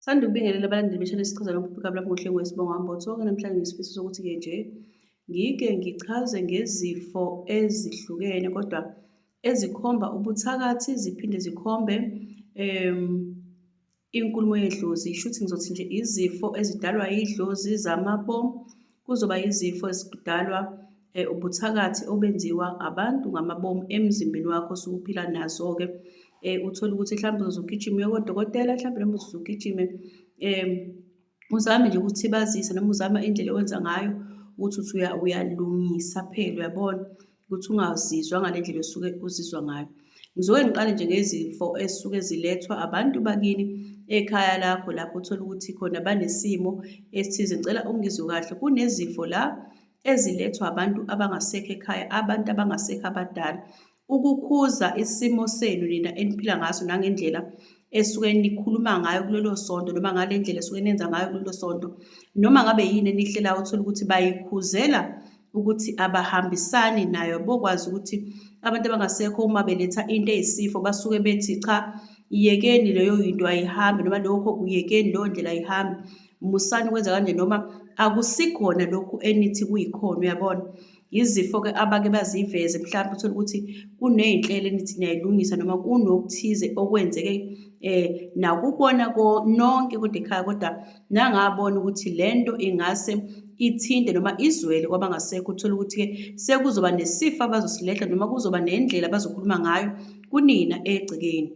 Sanda ukubingelela abalandeli beshane sichaza lokhu phika lapho ngohlelo wesibongo hambo sonke namhlanje ngisifiso sokuthi ke nje ngike ngichaze ngezifo ezihlukene kodwa ezikhomba ubuthakathi ziphinde zikhombe um inkulumo yedlozi shuthi ngizothi nje izifo ezidalwa idlozi zamabomu Kuzoba yizifo ezidalwa eh, ubuthakathi obenziwa abantu ngamabomu emzimbeni wakho osuke uphila nazo-ke um uthole ukuthi mhlawumbe uzogijima uye kodokotela mhlawumbe noma uzogijime um uzame nje ukuthibazisa noma uzama indlela owenza ngayo ukuthi uthi uyalungisa phela uyabona ukuthi ungazizwa ngale ndlela osuke uzizwa ngayo ngizoke ngiqale nje ngezifo ezisuke zilethwa abantu bakini ekhaya lakho lapho uthole ukuthi khona banesimo esithize ngicela ungizwe kahle kunezifo la ezilethwa abantu abangasekho ekhaya abantu abangasekho abadala ukukhuza isimo senu nina eniphila ngaso nangendlela esuke nikhuluma ngayo kulelo sonto noma ngale ndlela esuke nenza ngayo kulelo sonto noma ngabe yini enihlelayo uthole ukuthi bayikhuzela ukuthi abahambisani nayo bokwazi ukuthi abantu abangasekho uma beletha into eyisifo basuke bethi cha yekeni leyo yinto ayihambi noma lokho kuyekeni leyo ndlela ayihambi musani ukwenza kanje noma akusikhona lokhu enithi kuyikhona uyabona izifo-ke abake baziveze mhlawumbe uthole ukuthi kuney'nhlelo enithi niyayilungisa noma kunokuthize okwenzeke um nakubona nonke kodwa ekhaya kodwa nangabona ukuthi le nto ingase ithinte noma izwele kwabangasekho uthole ukuthi-ke sekuzoba nesifo abazosilehla noma kuzoba nendlela abazokhuluma ngayo kunina egcekeni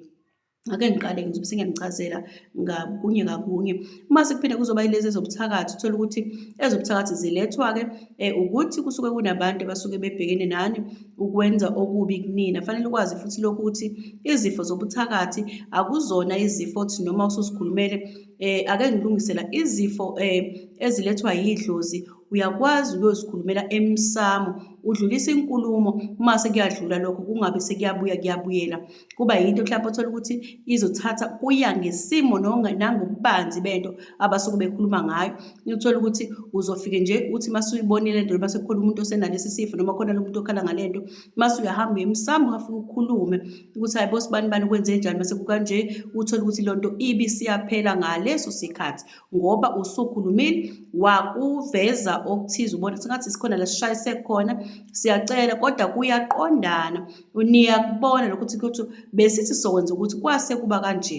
ake ngiqale ngizobe sengiyangichazela ngakunye ngakunye uma sekuphinde kuzoba yilezi ezobuthakathi uthole ukuthi ezobuthakathi zilethwa-ke um ukuthi kusuke kunabantu abasuke bebhekene nani ukwenza okubi kunina fanele ukwazi futhi lokhu ukuthi izifo zobuthakathi akuzona izifo othi noma usuzikhulumele eh ake ngilungisela izifo eh ezilethwa yidlozi uyakwazi uyozikhulumela emsamo udlulisa inkulumo uma sekuyadlula lokho kungabe sekuyabuya kuyabuyela kuba yinto mhlawumbe othola ukuthi izothatha kuya ngesimo nangobubanzi bento abasuke bekhuluma ngayo uthola ukuthi uzofike nje uthi uma suyibonile lento noma sekukhona umuntu osenalesi sifo noma khona lo muntu okhala ngale nto mase uyahamba uye emsamo ungafika ukhulume ukuthi hayi bo sibani bani kwenze njani mase kukanje uthole ukuthi lo nto ibi siyaphela ngaleso sikhathi ngoba usukhulumile wakuveza okuthize ubona sengathi sikhona la sishayise khona siyacela kodwa kuyaqondana niyakubona lokuthi kuthi besithi sokwenza ukuthi kwase kuba kanje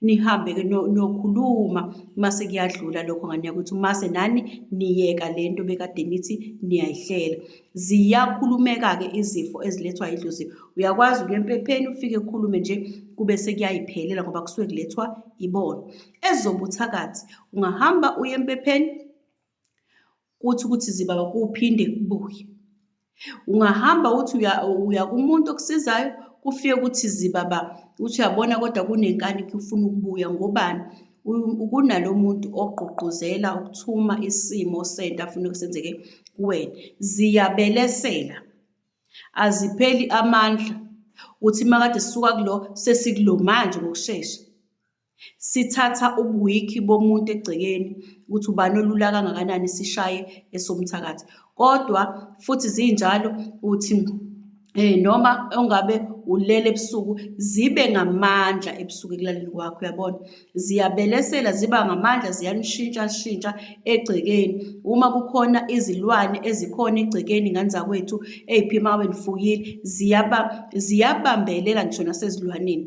nihambe-ke nokhuluma mase kuyadlula lokho ngane yakwethu mase nani niyeka le nto bekade nithi niyayihlela ziyakhulumeka-ke izifo ezilethwa yidlozi uyakwazi ukuya empepheni ufike kukhulume nje kube sekuyayiphelela ngoba kusuke kulethwa ibona ezobuthakathi ungahamba uye empepheni kuthi ukuthi zibaba kuphinde kubuye ungahamba uthi uya uya kumuntu okusizayo kufike ukuthi zibaba uthi uyabona kodwa kunenkani kufuna ukubuya ngobani kunalo muntu ogqugquzela ukuthuma isimo sento afuna kusenzeke kuwena ziyabelesela azipheli amandla uthi makade sisuka kulo sesikulo manje ngokushesha Sithatha ubuwikhi bomuntu egcekeni ukuthi ubani olula kangakanani sishaye esomthakathi. Kodwa futhi zinjalo uthi eh noma ongabe ulele ebusuku zibe ngamandla ebusuku ekulaleni kwakho uyabona ziyabelesela ziba ngamandla ziyanishintsha shintsha egcekeni uma kukhona izilwane ezikhona egcekeni ngane zakwethu ey'phima ngabe nifuyile ziyabambelela ngisho nasezilwaneni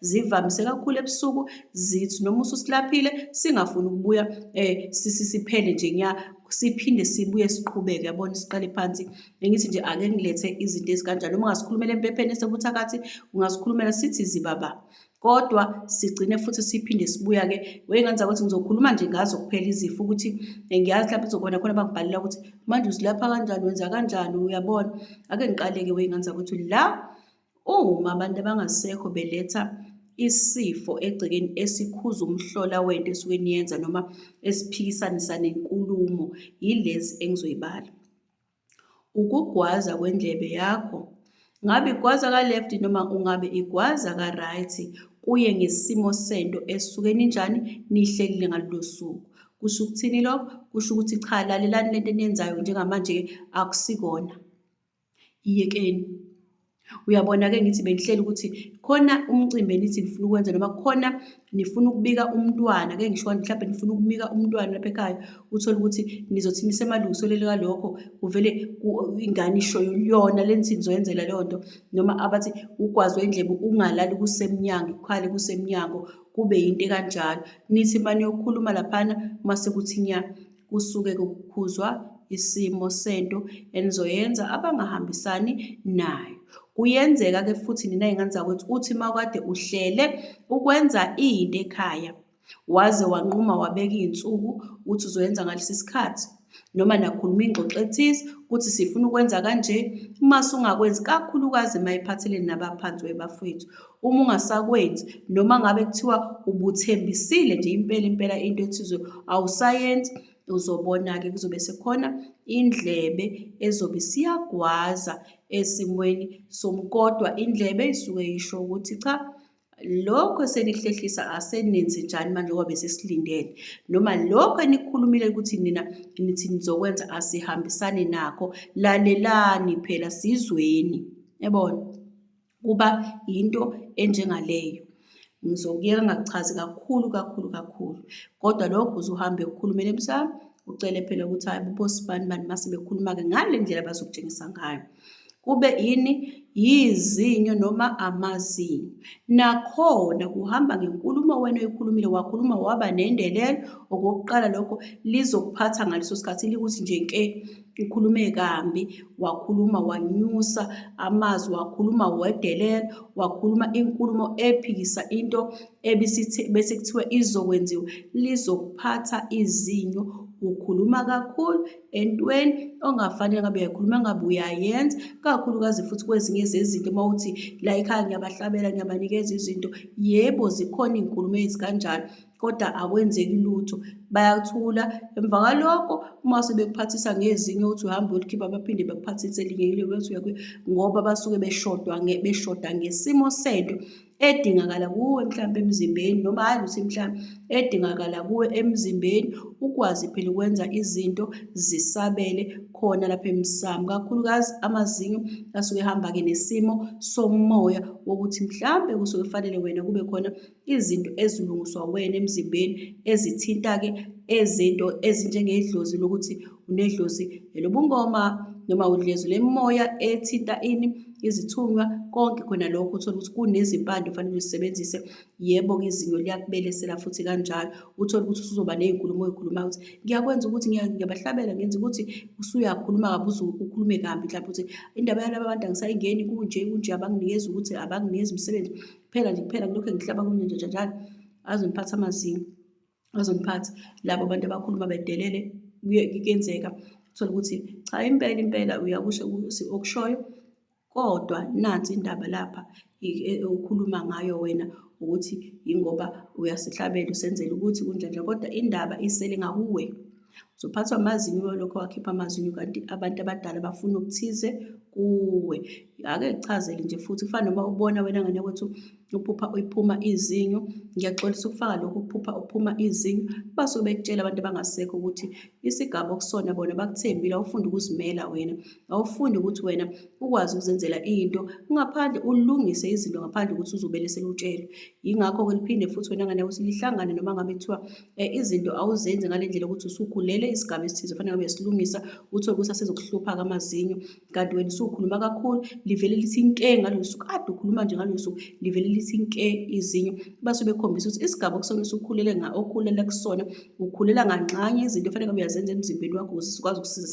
Zivamise kakhulu ebusuku zithi noma ususilaphile singafuni ukubuya eh sisiphele nje nya siphinde sibuye siqhubeke yabona siqale phansi bengithi nje ake ngilethe izinto ezikanjalo uma ngasikhulumela empepheni esebuthakathi ungasikhulumela sithi zibaba kodwa sigcine futhi siphinde sibuya-ke weyengane zakuthi ngizokhuluma nje ngazo kuphela izifo ukuthi eh, ngiyazi lapho izokubona khona bangibhalela ukuthi manje uzilapha kanjani wenza kanjani uyabona ake ngiqaleke weyengane zakuthi la Uma abantu abangasekho beletha isifo egcekeni esikhuza umhlola wento esuke niyenza noma esiphikisanisa nenkulumo yilezi engizoyibala ukugwaza kwendlebe yakho ngabe igwaza ka-left noma ungabe igwaza ka-right kuye ngesimo sento esuke ninjani nihlelile ngalolo suku kusho ukuthini lokho kusho ukuthi cha lalelani lento eniyenzayo njengamanje-ke akusikona Iyekeni. Uyabona-ke ngithi bengihleli ukuthi khona umcimbi enithi nifuna ukwenza noma khona nifuna ukubika umntwana, ke ngisho mhlawumbe nifuna ukubika umntwana lapha ekhaya, uthole ukuthi nizothi nisemalungiselweni kalokho kuvele ingane isho yona le nithi nizoyenzela leyo nto, noma abathi ugwaze indlebe ungalali kusemnyango, ukhale kusemnyango, kube yinto ekanjalo. Nithi uma niyokhuluma laphana uma sekuthi nya. Kusuke kukhuzwa isimo sento enizoyenza abangahambisani nayo. Kuyenzeka ke futhi nina ingane zakwethu uthi mawukade uhlele ukwenza into ekhaya waze wanquma wabeka izinsuku uthi uzoyenza ngalesi sikhathi noma nakhuluma ingxoxo ethize ukuthi sifuna ukwenza kanje uma sungakwenzi kakhulukazi mayiphatheleni nabaphansi webafowethu Uma ungasakwenzi noma ngabe kuthiwa ubuthembisile nje impela impela into ethize awusayenzi uzobona-ke kuzobe sekhona indlebe ezobe siyagwaza esimweni somkodwa indlebe isuke yisho ukuthi cha lokho esenihlehlisa asenenzi njani manje ngoba besisilindele noma lokho enikhulumile ukuthi nina nithi nizokwenza asihambisani nakho lalelani phela sizweni yabona kuba yinto enjengaleyo. Ngizokuyeka ngakuchazi kakhulu kakhulu kakhulu. Kodwa lokho uzuhambe ukhulumele emsamo, ucele phela ukuthi hayi bobosibani bani mase bekhuluma-ke ngale ndlela bazokutshengisa ngayo. Kube yini yizinyo noma amazinyo. Nakhona kuhamba ngenkulumo wena oyikhulumile, wakhuluma waba nendelelo. Okokuqala lokho lizokuphatha ngaleso sikhathi likuthi nje nke. ukhulume kambi wakhuluma wanyusa amazwi wakhuluma wedelela wakhuluma inkulumo ephikisa into bese kuthiwa izokwenziwa lizokuphatha izinyo ukhuluma kakhulu entweni ongafanele ngabe uyakhuluma ngabe uyayenza kakhulukazi futhi kwezinye zezinto uma uthi la ekhaya ngiyabahlabela ngiyabanikeza izinto yebo zikhona iy'nkulumo ezikanjalo kodwa akwenzeki lutho bayathula emva kwalokho uma sebekuphathisa ngezinye ukuthi uhambe ulikhipha baphinde bakuphathise elinye ile ukuthi uyakuye ngoba basuke beshodwa beshoda ngesimo sento edingakala kuwe mhlawumbe emzimbeni noma hhayi ukuthi mhlawumbe edingakala kuwe emzimbeni ukwazi phela ukwenza izinto zisabele khona lapha emsamo kakhulukazi amazinyo asuke ehamba-ke nesimo somoya wokuthi mhlawumbe kusuke kufanele wena kube khona izinto ezilungiswa wena emzimbeni ezithinta-ke ezinto ezinjengedlozi lokuthi unedlozi elobungoma noma udlezu lemimoya ethinta ini izithunywa konke khona lokho uthole ukuthi kunezimpande ofanele uzisebenzise yebo-ke izinyo liyakubelesela futhi kanjalo uthole ukuthi usuzoba ney'nkulumo oy'khuluma ukuthi ngiyakwenza ukuthi ngiyabahlabela ngenza ukuthi usuyakhuluma kabi uze ukhulume kambi mhlawumbe ukuthi indaba yalaba abantu angisayingeni kunje kunje abanginikezi ukuthi abanginikezi umsebenzi kuphela nje kuphela kulokhu engihlaba kumina nje njalo azongiphatha amazinyo azongiphatha labo abantu abakhuluma bedelele kuyenzeka uthole ukuthi cha impela impela uyakusho ukuthi okushoyo kodwa nansi indaba lapha ukhuluma ngayo wena ukuthi yingoba uyasihlabela usenzela ukuthi kunjanja kodwa indaba isele ngakuwe uzophathwa amazinyo lokho wakhipha amazinyo kanti abantu abadala bafuna okuthize kuwe ake kuchazele nje futhi kufana noma ubona wena ngane ukuthi uphupha uyiphuma izinyo ngiyaxolisa ukufaka lokho ukuphupha uphuma izinyo basuke bekutshela abantu abangasekho ukuthi isigaba okusona bona bakuthembile awufunde ukuzimela wena awufunde ukuthi wena ukwazi ukuzenzela into ngaphandle ulungise izinto ngaphandle ukuthi uzobele selutshelwe yingakho-ke liphinde futhi wena ngane ukuthi lihlangane noma ngabe kuthiwa Eh, izinto awuzenzi ngale ndlela ukuthi usukhulele isigaba esithize fanele ngabe uyasilungisa uthole ukuthi asezokuhlupha-ke amazinyo kanti wena usukhuluma kakhulu livele lithi nke ngalolu suku ade ukhuluma nje ngalolu suku livele lithi nke izinyo base bekhombisa ukuthi isigaba okusona usukhulele okhulele kusona ukhulela nganxanye izinto fanele ngabe uyazenza emzimbeni wakho ukuze sikwazi ukusiza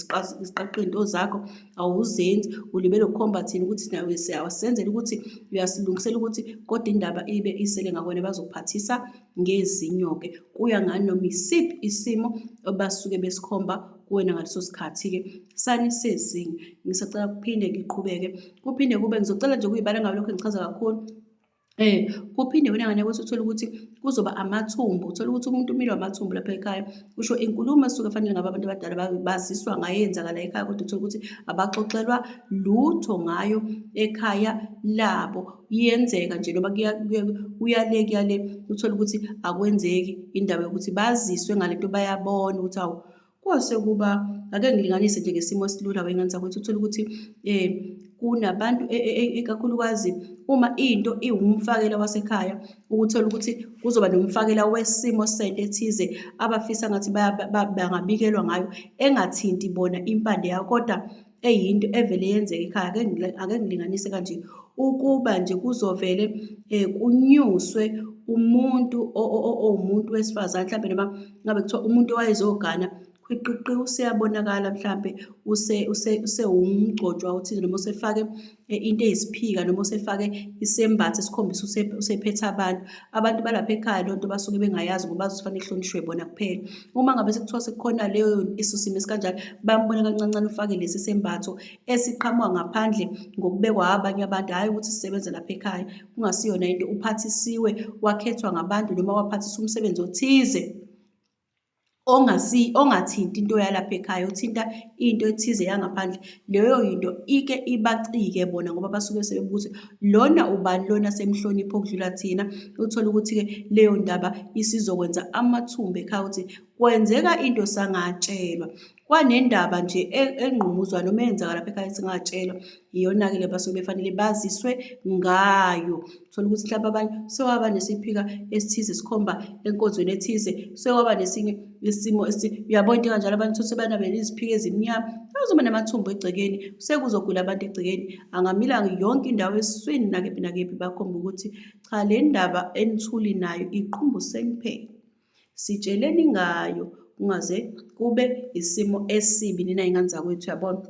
siqaqe iy'nto zakho awuzenzi ulibele ukhomba thina ukuthi nawe siyawasenzela ukuthi uyasilungisela ukuthi kodwa indaba ibe isele ngakwena bazokuphathisa ngezinyo-ke kuya nganoma isiphi isimo obasuke besikhomba kuwena ngaleso sikhathi-ke sanisezinye ngisacela kuphinde ngiqhubeke kuphinde kube ngizocela nje kuyibala ngabe lokho ngichaza kakhulu um kuphinde wena ngane kwethu uthole ukuthi kuzoba amathumbu uthole ukuthi umuntu umile wamathumbu lapha ekhaya usho inkulumo esuke fanele ngabe abantu abadala baziswa ngayo yenzakala ekhaya kodwa uthole ukuthi abaxoxelwa lutho ngayo ekhaya labo iyenzeka nje noma kuyale kuyale uthole ukuthi akwenzeki indaba yokuthi baziswe ngale nto bayabona ukuthi awu kwase kuba ake ngilinganise nje ngesimo esilula wengane zakwethu uthole ukuthi um kunabantu e, e, e, ikakhulukazi uma into iwumfakela wasekhaya ukuthola ukuthi kuzoba nomfakela wesimo sento ethize abafisa ngathi bangabikelwa ngayo engathinti bona impande yayo kodwa eyinto evele yenzeka ekhaya ake ngile- ake ngilinganise kanje ukuba nje kuzovele um kunyuswe umuntu o- o- o- owumuntu wesifazane mhlawumbe noma ngabe kuthiwa umuntu owayezogana khwiqiqi useyabonakala mhlawumbe use- use- usewumgcotshwa othize noma usefake into eyisiphika noma usefake isembatho esikhombisa usephethe abantu abantu balapha ekhaya loo nto basuke bengayazi ngoba bazofanele kuhlonishwe bona kuphela uma ngabe sekuthiwa sekukhona leyo iso simo esikanjalo bambona kancancane ufake lesi sembatho esiqhamuka ngaphandle ngokubekwa abanye abantu hhayi ukuthi sisebenze lapha ekhaya kungasiyona into uphathisiwe wakhethwa ngabantu noma waphathisa umsebenzi othize ongasi ongathinti into yalapha ekhaya uthinta into ethize yangaphandle leyo yinto ike ibacike bona ngoba basuke sebebuthi lona ubani lona semhlonipho okudlula thina uthole ukuthi ke leyo ndaba isizokwenza amathumba ekhaya ukuthi kwenzeka into sangatshelwa kwanendaba nje e, engqumuzwa noma eyenzeka lapha ekhaya singatshelwa iyona-ke le basuke befanele baziswe ngayo thola ukuthi mhlawumbe abanye sewaba nesiphika esithize sikhomba enkonzweni ethize sewaba nesinye isimo uyabona into kanjalo abantu those banabela iziphika ezimnyama azoba namathumbu egcekeni sekuzogula abantu egcekeni angamilanga yonke indawo esiswini nakephi nakephi bakhomba ukuthi cha le ndaba enithuli nayo iqumbu seniphele Sitsheleni ngayo kungaze kube isimo esibi nina ingane zakwethu yabona.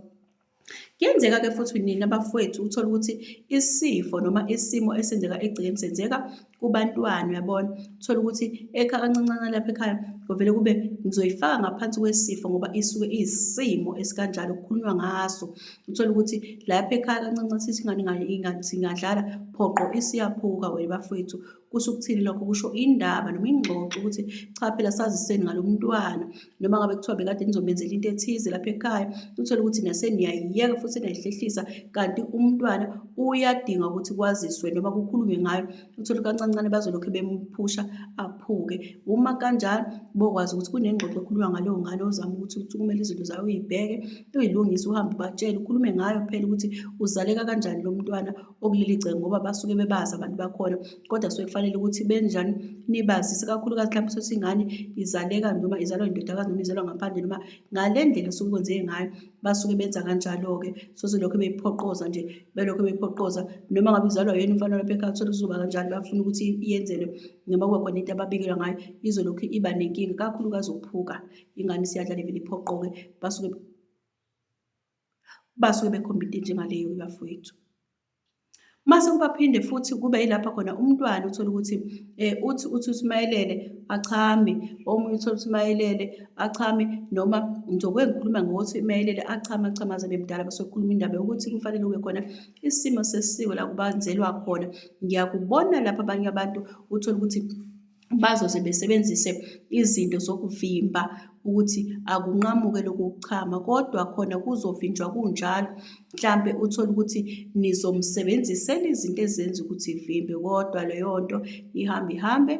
Kuyenzeka ke futhi nina bafowethu uthola ukuthi isifo noma isimo esenzeka egcekeni senzeka kubantwana uyabona. Uthola ukuthi ekha kancancana lapha ekhaya kuvele kube ngizoyifaka ngaphansi kwesifo ngoba isuke iyisimo esikanjalo kukhulunywa ngaso. Uthola ukuthi lapha ekhaya kancancane sithi ingane ingadlala phoqo isiyaphuka wena bafowethu Kusho ukuthini lokho? Kusho indaba noma ingxoxo ukuthi cha phela saziseni ngalo mntwana noma ngabe kuthiwa bekade nizomenzela into ethize lapha ekhaya, uthole ukuthi naseniyayiyeka futhi seniyayihlehlisa kanti umntwana uyadinga ukuthi kwaziswe noma kukhulunywe ngayo, uthole kancancane bazolokhu bemphusha aphuke. Uma kanjalo bokwazi ukuthi kunengxoxo ekhulunywa ngaleyo ngane ozama ukuthi uthi kumele izinto zayo uyibheke, uyilungise uhambe ubatshele ukhulume ngayo phela ukuthi uzaleka kanjani lo mntwana okuleli gceke ngoba basuke bebazi abantu bakhona kodwa suke kufanele ukuthi benjani nibazise kakhulukazi mhlawumbe sothi ingane izaleka noma izalwa indodakazi noma izalwa ngaphandle noma ngale ndlela osuke kwenzeke ngayo basuke benza kanjalo-ke soze lokho beyiphoqoza nje belokho beyiphoqoza noma ngabe uzalwa yena umfana lapha ekhaya uthole uzoba kanjalo bafuna ukuthi iyenzelwe noma kuba khona into ababikelwa ngayo izolokhu iba nenkinga kakhulukazi ukuphuka ingane isiyadlala vele iphoqoke basuke basuke bekhompite njengaleyo bafowethu. Mase kubaphinde futhi kube yilapha khona umntwana uthola ukuthi eh uthi uthi usimayelele achame omunye uthola ukuthi mayelele achame noma njobe ngikhuluma ngokuthi mayelele achame achame aze bemdala bese kukhuluma indaba yokuthi kufanele kube khona isimo sesiko la kubanzelwa khona ngiyakubona lapha abanye abantu uthola ukuthi bazoze besebenzise izinto zokuvimba ukuthi akunqamuke lokhu kuchama kodwa khona kuzovinjwa kunjalo mhlampe uthole ukuthi nizomsebenzisela izinto ezenza ukuthi ivimbe kodwa leyo nto ihambe ihambe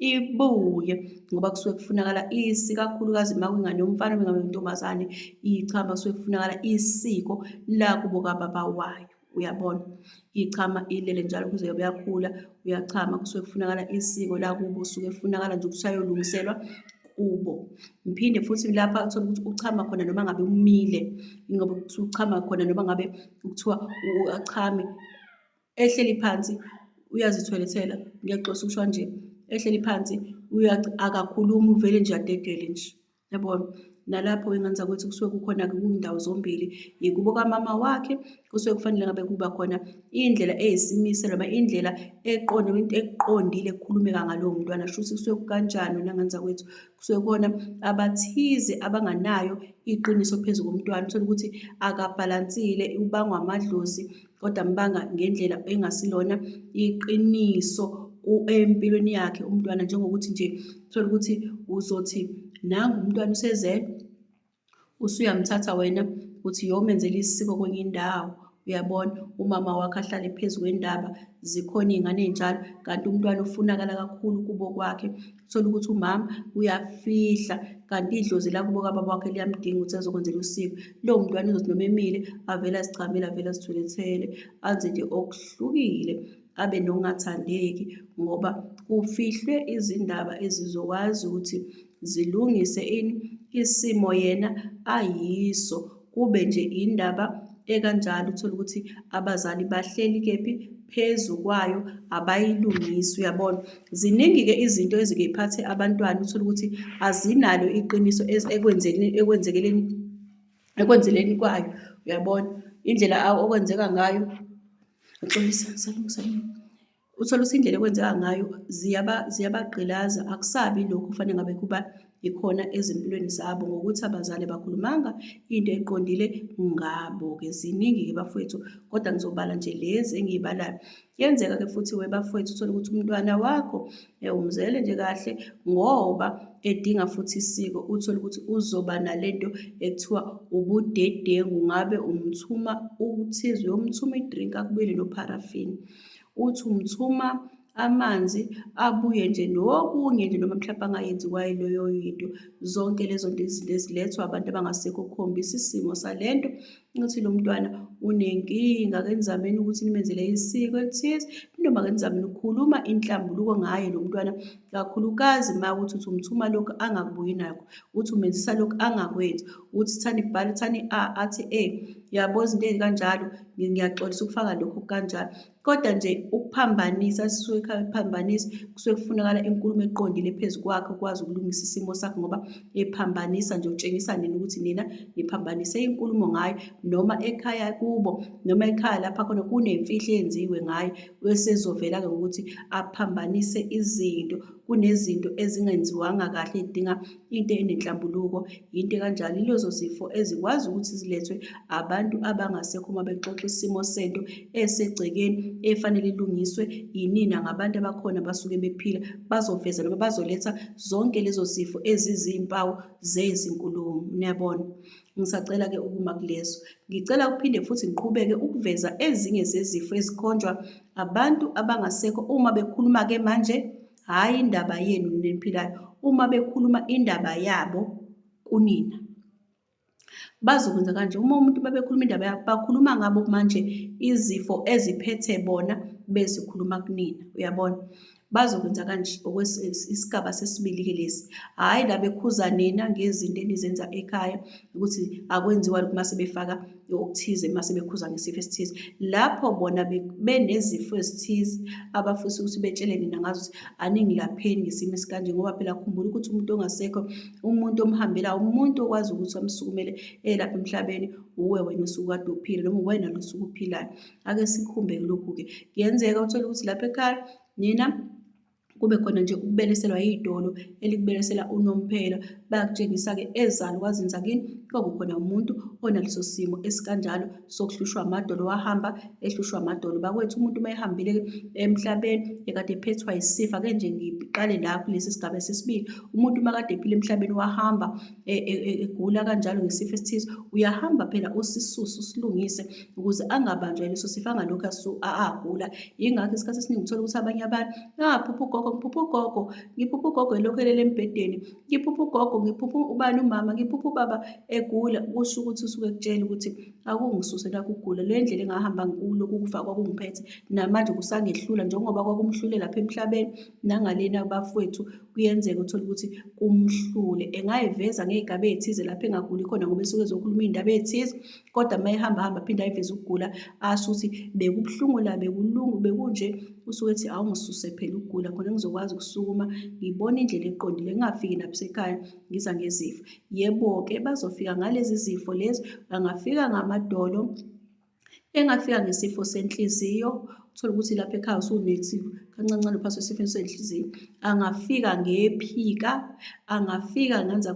ibuye ngoba kusuke kufunakala isi kakhulukazi uma kwingane yomfana bengabe intombazane ichama kusuke kufunakala isiko lakubo kababa wayo uyabona ichama ilele njalo kuze yobe yakhula uyachama kusuke kufunakala isiko lakubo usuke kufunakala nje ukuthi ayolungiselwa kubo ngiphinde futhi lapha uthole ukuthi uchama khona noma ngabe umile ngoba kuthiwa uchama khona noma ngabe kuthiwa achame ehleli phansi uyazitholethela ngiyaxosa ukusho nje ehleli phansi akakhulumi uvele nje adedele nje yabona nalapho ingane zakwethu kusuke kukhona-ke kuyindawo zombili yikubo kamama wakhe kusuke kufanele ngabe kuba khona indlela eyisimisa noma indlela eqonde into eqondile ekukhulumeka ngalowo mntwana shuthi kusuke kukanjani wena ngane zakwethu kusuke kona abathize abanganayo iqiniso phezu komntwana uthole ukuthi akabhalansile ubangwa amadlozi kodwa ambanga ngendlela engasilona iqiniso empilweni yakhe umntwana njengokuthi nje uthole ukuthi uzothi nangu umntwana usezele usuyamthatha wena uthi yomenzela isiko kwenye indawo uyabona umama wakhe ahlale phezu kwendaba zikhona iy'ngane ey'njalo kanti umntwana ufunakala kakhulu kubo kwakhe Thola ukuthi umama uyafihla kanti idlozi lakubo kababa wakhe liyamdinga ukuthi azokwenzela usiko. Lowo mntwana uzothi noma emile avele azichamele avele azithulethele anze nje okuhlukile abe nokungathandeki ngoba kufihlwe izindaba ezizokwazi ukuthi zilungise ini isimo yena ayiso. Kube nje indaba ekanjalo uthole ukuthi abazali bahleli kephi phezu kwayo abayilungisi uyabona ziningi-ke izinto ezike iphathe abantwana uthole ukuthi azinalo iqiniso ekwenzekeleni ekwenzeleni kwayo uyabona indlela okwenzeka ngayo axolisa salungiselela Uthole ukuthi indlela ekwenzeka ngayo ziyaba ziyabagqilaza akusabi lokhu kufanele ngabe kuba ikhona ezimpilweni zabo ngokuthi abazali bakhulumanga into eqondile ngabo-ke ziningi-ke bafowethu kodwa ngizobala nje lezi engiyibalayo kuyenzeka-ke futhi we bafowethu uthole ukuthi umntwana wakho umzele nje kahle ngoba edinga futhi isiko uthole ukuthi uzoba nale nto ekuthiwa ubudedengu ngabe umthuma ukuthize uyomthuma idrink akubuyele nopharafini uthi umthuma amanzi abuye nje nokunye nje noma mhlawumbe angayenziwa yiloyo yinto zonke lezo nto izinto ezilethwa abantu abangasekho kukhombisa isimo sale nto ukuthi lo mntwana unenkinga ake nizameni ukuthi nimenzele isiko elithize noma ake nizameni ukukhuluma inhlambuluko ngaye lo mntwana kakhulukazi uma ukuthi uthi umthuma lokhu angakubuyi nakho uthi umenzisa lokhu angakwenzi uthi thani bhala thani a athi e yabo izinto ezikanjalo ngiyaxolisa ukufaka lokhu kanjalo kodwa nje ukuphambanisa sisuke kuphambanisa kusuke kufunakala inkulumo eqondile phezu kwakhe ukwazi ukulungisa isimo sakhe ngoba ephambanisa nje utshengisa nina ukuthi nina niphambanise inkulumo ngayo noma ekhaya kubo noma ekhaya lapha khona kunemfihlo eyenziwe ngayo wesezovela-ke ngokuthi aphambanise izinto kunezinto ezingenziwanga kahle edinga into enenhlambuluko yinto kanjalo ilezo zifo ezikwazi ukuthi zilethwe abantu abangasekho uma bexoxa isimo sento esegcekeni efanele ilungiswe yinina ngabantu abakhona basuke bephila bazoveza noma bazoletha zonke lezo zifo ezizimpawu zezinkulumo niyabona Ngisacela-ke ukuma kulezo. Ngicela ukuphinde futhi ngiqhubeke ukuveza ezinye zezifo ezikhonjwa abantu abangasekho uma bekhuluma-ke manje, hhayi indaba yenu neniphilayo, uma bekhuluma indaba yabo kunina. Bazokwenza kanje, uma umuntu babekhuluma indaba yabo, bakhuluma ngabo manje izifo eziphethe bona bezikhuluma kunina, uyabona? Bazokwenza kanje isigaba sesibili-ke lesi. Hhayi la bekhuza nina ngezinto enizenza ekhaya ukuthi akwenziwa lokhu uma sebefaka okuthize uma sebekhuza ngesifo esithize. Lapho bona benezifo ezithize abafisa ukuthi betshele nina ngazo ukuthi aningilapheni ngesimo esikanje ngoba phela khumbula ukuthi umuntu ongasekho umuntu omhambela umuntu okwazi ukuthi amsukumele elapha emhlabeni uwe wena osuke kade uphila noma uwena lo osuke uphilayo. ake sikhumbe kulokhu-ke kuyenzeka uthole ukuthi lapha ekhaya nina kube khona nje ukubeleselwa yidolo elikubelesela unomphela bayakutshengisa-ke ezalo kwazenza kini kwakukhona umuntu onaleso simo esikanjalo sokuhlushwa amadolo wahamba ehlushwa amadolo bakwethu umuntu uma ehambile emhlabeni ekade ephethwa yisifa ke nje ngiqale la kulesi sigaba sesibili umuntu uma kade ephile emhlabeni wahamba e, e, e, egula kanjalo ngesifo esithize uyahamba phela usisusu silungise ukuze angabanjwa yileso sifo angalokhu agula yingakho isikhathi esiningi uthola ukuthi abanye abantu aphupha ugogo ngiphupha ugogo ngiphupha ugogo elokhu elele embhedeni ngiphupha ugogo ngiphupha ubani umama ngiphupha ubaba egula kusho ukuthi usuke kutshela ukuthi akungisuse nakugula le ndlela engahamba ngikulo kukufa kwakungiphethe namanje kusangehlula njengoba kwakumhlule lapha emhlabeni nangalena bafowethu kuyenzeka uthole ukuthi kumhlule engayiveza ngey'gaba ey'thize lapho engaguli khona ngoba esuke ezokhuluma iy'ndaba ey'thize kodwa uma ehamba hamba aphinde ayiveze ukugula asho ukuthi bekubuhlungu la bekulungu bekunje usuke ethi awungisuse phela ukugula khona ngizokwazi ukusukuma ngibone indlela eqondile ngingafiki nabusekhaya ngiza ngezifo yebo-ke bazofika ngalezi zifo lezi bangafika ngamadolo engafika ngesifo senhliziyo uthole ukuthi lapha ekhaya usunethi kancancane uphaswe esifeni senhliziyo angafika ngephika angafika ngenza